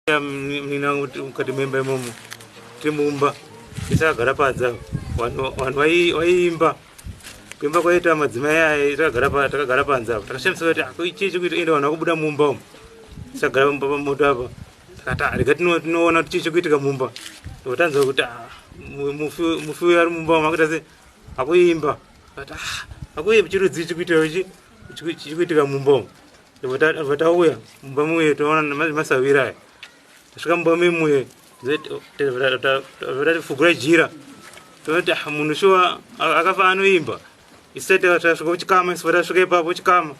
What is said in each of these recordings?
Mninangu mukati memba imomo timumba tisagara padza vanhu vaiimba kuimba kwaita madzimai aye takagara panze apa takashandisa kuti ah, chii chikuita ende vanhu vakubuda mumba umu tisagara pamba pamoto apa takati ah, rega tinoona kuti chii chikuitika mumba ndotanzwa kuti ah, mufi uyo ari mumba umu akuita se akuimba akuimba chirudzii chikuitika chikuitika mumba umu vatauya mumba muye toona masavira aya tasvika mumba memuye vatatifugura jira tonoti ah, munhu shuwa akafa anoimba isati tasvika kuchikama isu vatasvika ipapo chikama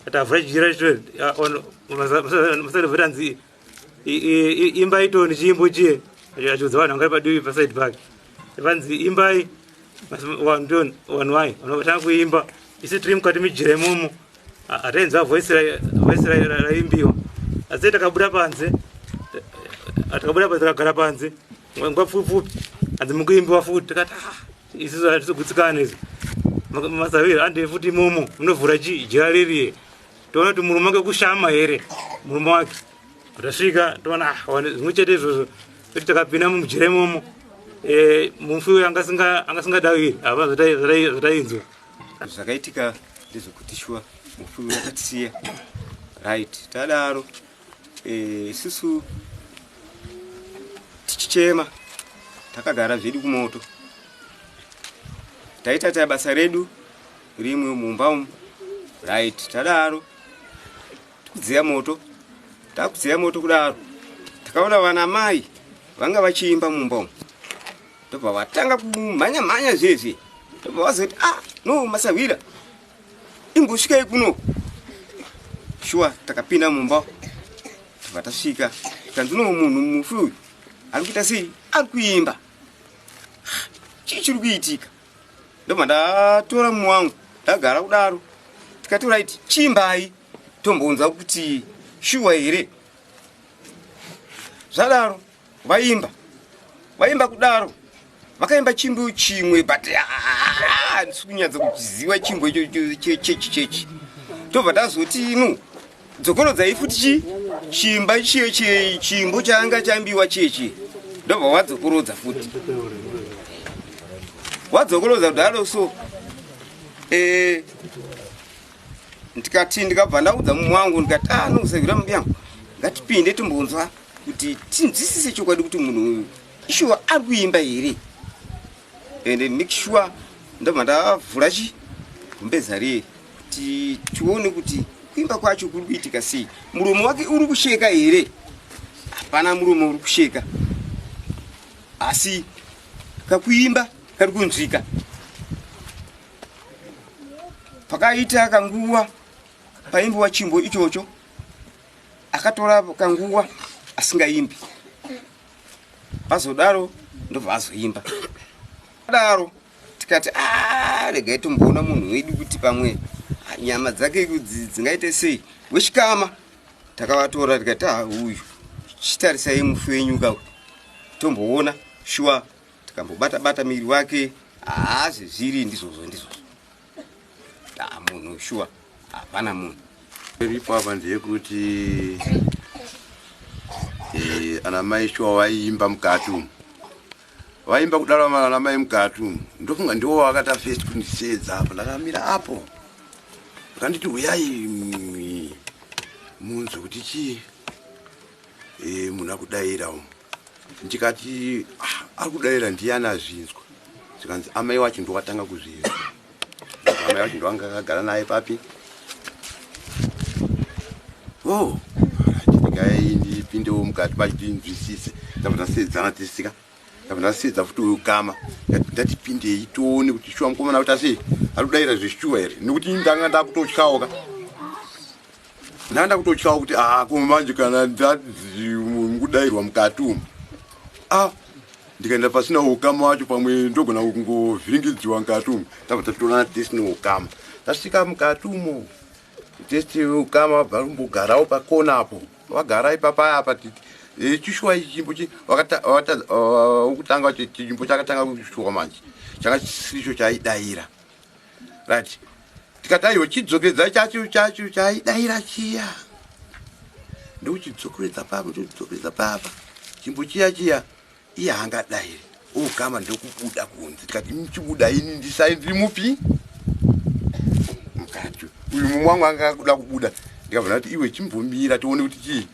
atavhura jira masati vatanzi imbai toni chiimbo chiye achiudza vanhu vanga padivi paside pake vanzi imbai vanhu toni vanhu vaye vanovatanga kuimba isi tiri mukati mijira imomo hatainzwa voisi raimbiwa asi takabuda panze takabuda panze takagara panze nguva pfupi pfupi hanzi mukuimbiwa futi tikati ah, isusu hatisogutsikana izvo masaviro andive futi imomo munovhura chii jira ririye toona kuti murume wake kushama here murume wake tasvika toona ah, zvimwe chete izvozvo kuti takapinda mumujira imomo eh, mufi uyo anga singadawi hava zvatainzwa zvakaitika ndezvekuti shuwa mufi uyo akatisiya right tadaro eh, isusu tichichema takagara zvedu kumoto taita taya basa redu Rimwe mumba umu. Right, tadaro. Tikudziya moto. Takudziya moto kudaro. Takaona vana mai vanga vachiimba mumba umu. Ndobva vatanga kumhanya mhanya zvezvi. Ndobva vazoti ah no masahwira. Imbosvika ikuno. Shuwa takapinda mumba. Ndobva tasvika. Tanzino munhu mufi uyu. Ari kuita sei? Ari kuimba. Chii chiri kuitika? ndobva ndatora mumwe wangu ndagara kudaro tikati right chimbai tombounza kuti shuwa here zvadaro vaimba vaimba kudaro vakaimba chimbo chimwe but ndisi kunyatsa kuchiziva chimbo ichocho chechi chechi tobva tazoti inu dzokorodzai futi chi chimba chiyo chi- chimbo chaanga chambiwa chiye chiye ndobva wadzokorodza futi wadzokorodza kudaro so eh, ndikati ndikabva ndaudza mumwe wangu ndikati ah nokusagwira mumbi yangu ngatipinde timbonzwa kuti tinzwisise chokwadi kuti munhu uyu ishuwa ari kuimba here ende make sure ndobva ndavhura chi mbeza riye kuti tione kuti kuimba kwacho kuri kuitika sei muromo wake uri kusheka here hapana muromo uri kusheka asi kakuimba kari kunzwika pakaita kanguva paimbiwa chimbo ichocho akatora kanguva asingaimbi vazodaro ndobva azoimba daro tikati ah, regai tomboona munhu wedu kuti pamwe ah, nyama dzake dzingaite sei wechikama takavatora tikati ah, uyu chitarisai mufi wenyu ka tomboona shuwa tikambobata bata miri wake haazvezviri ndizvozvo ndizvozvo Ah, munhu shuwa hapana munhu iripo apa ndeyekuti eh, ana mai shuwa vaiimba mukati umu vaimba kudaro ana mai mukati umu ndofunga ndiwo vakata fest kundisedza apo ndakamira apo vakanditi huyai mm, munzwe kuti chii e, munhu akudaira umu ndikati ah, ari kudaira ndiyani azvinzwa zvikanzi amai wacho ndowatanga kuzvinzwa amai wacho ndovanga akagara naye papi o oh, chidikai ndipindewo mukati pacho tinzwisise ndabva ndasedzana tisika ndabva ndasedza futi uyu kama ndatipindei tione kuti shuwa mukomana kuti asi ari kudaira zveshuwa here nekuti ndanga ndakutotyawoka Ndanda kutotyawo kuti ah ko manje kana ndakudairwa mukati umu. Ah ndikaenda pasina ukama wacho pamwe ndogona kungovhiringidziwa mukati umu. Tabva tatoona test no ukama. Tasvika mukati umu. Test ukama vabva kumbogarawo pakona apo. Vagara ipapa apa titi eh, chishuwa ichi chimbo chi wakata wakata uh, ukutanga chimbo chakatanga kushuwa manje. Chakachisicho chaidaira. right tikati aiwa chidzokeredza chacho chacho chaidaira chiya ndokuchidzokeredza papa ndodzokeredza papa chimbo chiya chiya iye haangadairi ogama ndokubuda kunze tikati chibuda ini ndisai ndiri mupi mukati uyu mumwe wangu anga akuda kubuda ndikabvona kuti iwe chimbomira tione kuti chii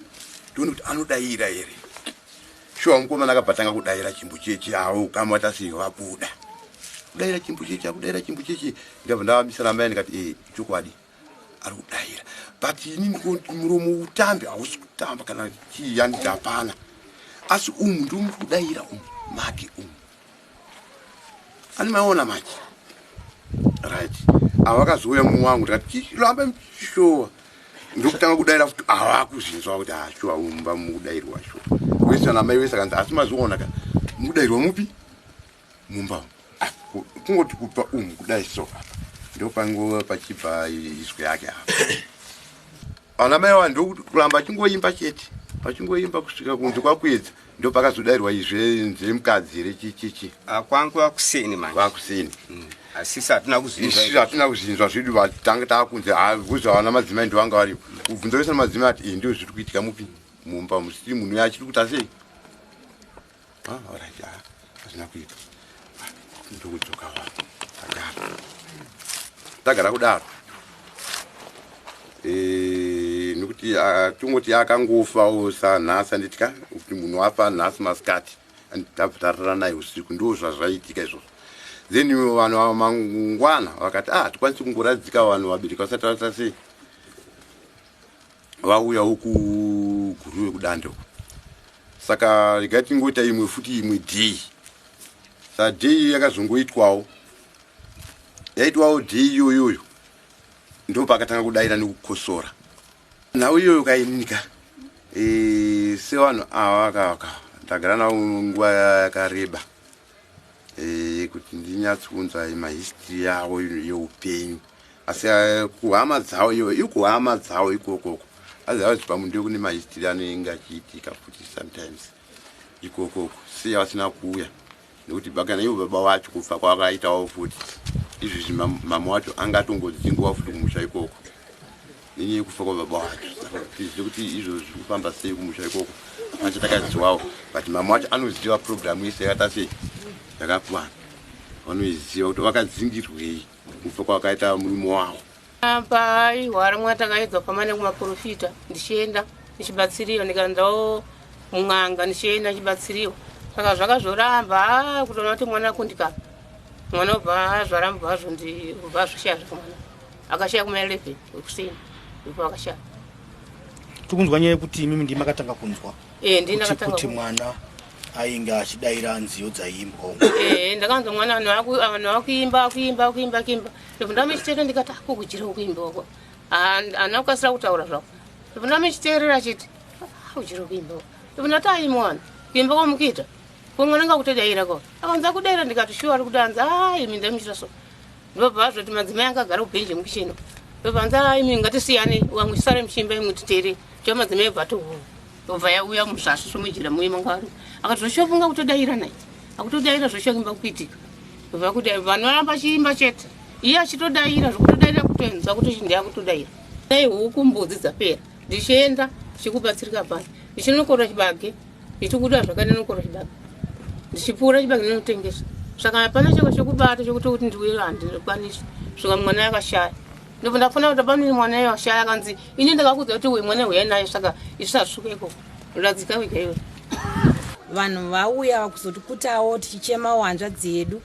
tione kuti anodaira here Shuwa mukomana akabva tanga kudaira chimbucheche awo kama tasi vabuda. Kudaira chimbucheche akudaira chimbucheche ndabva ndavamisa ramai ndikati eh chokwadi ari kudaira but ini ndikuti muromo utambi hausi kutamba kana chii yanditi hapana asi umu ndiri kudaira umu make umu Ani maona manje. Right. Avakazouya mumwe wangu ndikati chiramba mshowa. Ndokutanga kudaira futi avakuzvinzwa kuti ashowa ah, umba mudairwa sho. Wesa na mai wesa kanzi asi mazoona ka. Mudairwa mupi? Mumba. Ah, kungoti kupa umu kudai so. Ndopango pachibva izwi yake apa. Vana mai ava ndokuramba achingoimba chete vachingoimba kusvika kunzi kwakuedza ndo pakazodairwa izve nze mukadzi here chichichi ah, kwangu vakuseni manje vakuseni hmm. asisi hatina kuzvinzwaisu hatina kuzvinzwa zvedu vatanga taakunzi havuzva ah, vana madzimai ndo vanga varipo kubvunza vese na madzimai ati eh, ndo zviri kuitika mupi mumba musiri munhu achiri kutasei Ah, alright, ah, hazvina kuita. Ah, ndokudzoka wangu. Tagara. Tagara kudaro. Eh, nokuti ah, tongoti akangofa osa nhasi anditya kuti munhu wafa nhasi masikati anditava tarara naye usiku ndo zvazvaitika izvozvo then ivo vanhu ava mangwana vakati ah hatikwanisi kungoradzika vanhu vabereki vasati vata sei vauya uku guruve kudande uku saka regai tingoita imwe futi imwe day sa day yakazongoitwawo yaitwawo day iyoyoyo ndo pakatanga kudaira nekukosora nhau iyoyo kaininika e, sevanhu ava vakavaka ndagara navo nguva yakareba eh, yekuti ndinyatsounzai mahistory yavo yeupenyu asi eh, kuhama dzavo iyo ikuhama dzavo ikokoko azivazi pamundiyo kune mahistory anoinge achiitika futi sometimes ikokoko sei vasina kuuya nekuti bakana ivo baba vacho kubva kwavakaitawo futi izvizvi mama wacho anga atongodzingwa futi kumusha ikoko nenyaya yekufa kwababa wacho saka tizive kuti izvo zviri kufamba sei kumusha ikoko hapana chatakaziwawo but mama wacho anoziva programu yese yakaita sei yakakwana vanoiziva kuti vakadzingirwei kufa kwakaita murume wavo pai hwari mwa takaedzwa pama nekumaprofita ndichienda ndichibatsiriwa ndikandawo mun'anga ndichienda ndichibatsiriwa saka zvaka zvoramba ah, kutoona kuti mwana kundika mwana obva zvaramba vazvo ndibva zvishiya zvakamwana akashaya kuma 11 wekuseni ndipo akashaya tikunzwa nyaya yekuti imimi ndii makatanga kunzwa eh, kuti mwana ainge achidaira nziyo dzaiimbwa eh, ndakanzwa mwana vanhu vakuimba akuimba akuimba akuimba ndipo ndamechitete ndikati akukudyira ukuimba wako haana kukasira kutaura zvako ndipo ndamechiteerera achiti akudyira ukuimba wako ndipo ndati aimwana kuimba kwamukuita kumwana ngakutodaira ko akanza kudaira ndikati shuwa ari kudanza aimi ndamuchita so ndobva azvoti madzimai anga agara kubhenji yemukicheni ndobva anzi aa imi ngatisiyane wamwe sare muchimba imwe titere tiva madzimai bva tohura ndobva yauya muzvasvi svomujira muye manga vari akati zvoshofunga kutodaira nai akutodaira zvoshoimba kuitika ndobva kuti vanhu varamba achiimba chete iye achitodaira zvokutodaira kutoenza kuti chindi akutodaira dai huku mbudzi dzapera ndichienda chikubatsirika pano ndichinokorwa chibage ndichikuda zvakanyanya kukoro chibaba ndichipfuura chibage ndinotengesa saka hapana chako chekubata chekuti kuti ndiuye handikwanisi svika mwana yakashaya ndobva ndafona kuti pane mwana yakashaya akanzi ini ndakakudza kuti uye mwana huyai naye saka isasvika iko radzika wega iwe vanhu vauya vakuzoti kutawo tichichema wanzva dzedu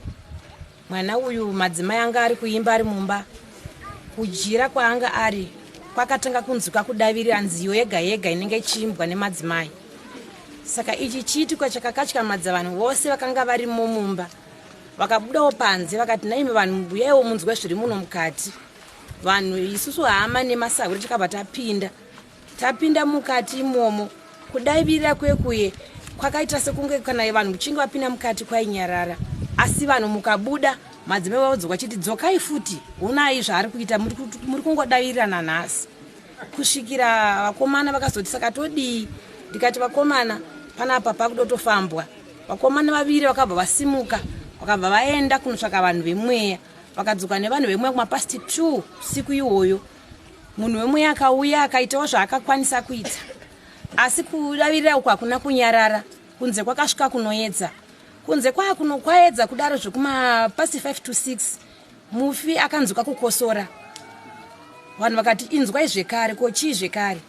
Mwana uyu madzimai anga ari kuimba ari mumba. Kujira kwaanga ari kwakatanga kunzwika kudavirira nziyo yega yega inenge ichiimbwa nemadzimai. Saka ichi chiitiko chakakatyamadza vanhu vose vakanga varimo mumba. Vakabudawo panze vakati naimi vanhu mubuyaiwo munzwe zviri muno mukati. Vanhu isusu hama nemasahwiri takabva tapinda. Tapinda mukati imomo kudaivirira kwekuye kwakaita sekunge kana vanhu muchinge vapinda mukati kwainyarara asi vanhu mukabuda madzimai vavadzoka chiti dzokai futi honai zvaari kuita muri kungodavirirana nhasi kusvikira vakomana vakazoti saka todii ndikati vakomana panapa pakudotofambwa vakomana vaviri vakabva vasimuka vakabva vaenda kunotsvaka vanhu vemweya vakadzoka nevanhu vemweya kumapasti two siku iwoyo munhu wemweya akauya akaitawo zvaakakwanisa kuita asi kudavirira uku hakuna kunyarara kunze kwakasvika kunoedza kunze kwaa kuno kwaedza kudaro zvekumapasi 5 to 6 mufi akanzwika kukosora vanhu vakati inzwai zvekare ko chii zvekare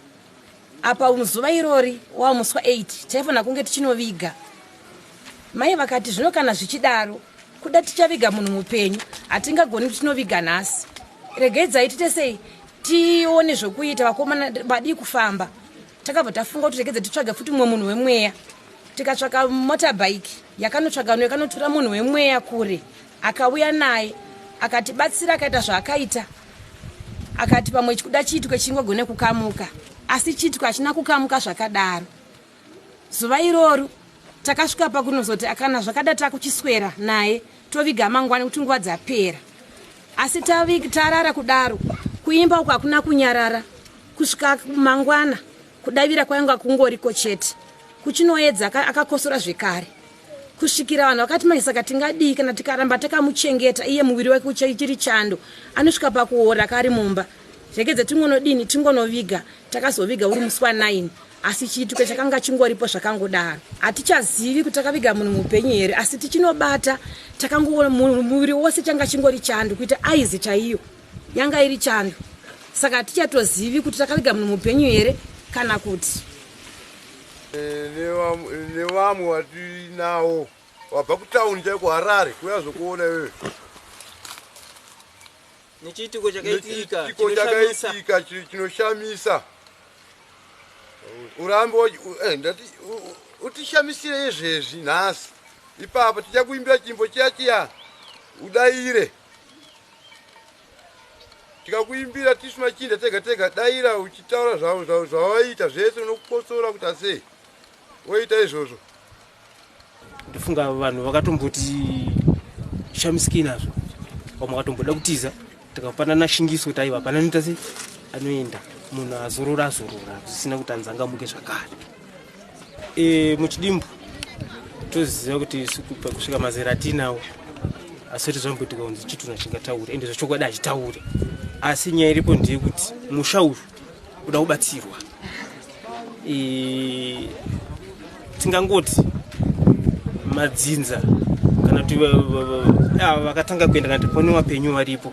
apa muzuva irori wamuswa 8 taifanira kunge tichinoviga mai vakati zvino kana zvichidaro kuda tichaviga munhu mupenyu hatingagoni kuti tinoviga nhasi regai dzaitite sei tione zvokuita vakomana vadii kufamba takabva tafunga kuti regedze titsvage futi mumwe munhu wemweya tikatsvaka motorbike yakanotsvaga no yakanotura munhu wemweya kure akauya naye akatibatsira akaita zvaakaita akati pamwe chikuda chiitwe chingogone kukamuka asi chiitwe hachina kukamuka zvakadaro zuva iroro takasvika pakunozoti akana zvakada takuchiswera naye toviga mangwani kuti nguva dzapera asi tarara kudaro kuimba uko hakuna kunyarara kusvika mangwana Kudavira kwainga kungoriko chete. Kuchinoedza akakosora zvekare. Kusvikira vanhu vakati manje saka tingadii kana tikaramba takamuchengeta iye muviri wake uchiri chando anosvika pakuora kari mumba rekedze tingonodini tingonoviga takazoviga uri musi wa9 asi chiitiko chakanga chingoripo zvakangodaro hatichazivi kuti takaviga munhu mupenyu here asi tichinobata takangoona muviri wose changa chingori chando kuita aizi chaiyo yanga iri chando saka hatichatozivi kuti takarega munhu mupenyu here kana kuti eh, nevamwe vatinawo wabva kutauni chaiko harare kuya zvokuona iwewe nechiitiko chakaitika chakaitika chinoshamisa urambe eh, ndati utishamisire izvezvi nhasi ipapo tichakuimbira chimbo chiya chiya udaire tikakuimbira tisu machinda tega tega daira uchitaura zvavo zvavo zvavaita zvese unokukotsora kuti asei woita izvozvo ndifunga vanhu vakatomboti shamisiki nazvo vamwe vakatomboda kutiza tikapanana shingiso kuti aiva pananoita se anoenda munhu azorora azorora zvisina kuti anzangamuke zvakare e, muchidimbu toziva kuti kusvika mazera atinawo asi kuti zvamboitika kunzi chitunha chingataure ende zvachokwadi hachitaure asi nyaya iripo ndeye kuti musha uyu uda kubatsirwa e, tingangoti madzinza kana kuti ava vakatanga kuenda kana kuti pone vapenyu varipo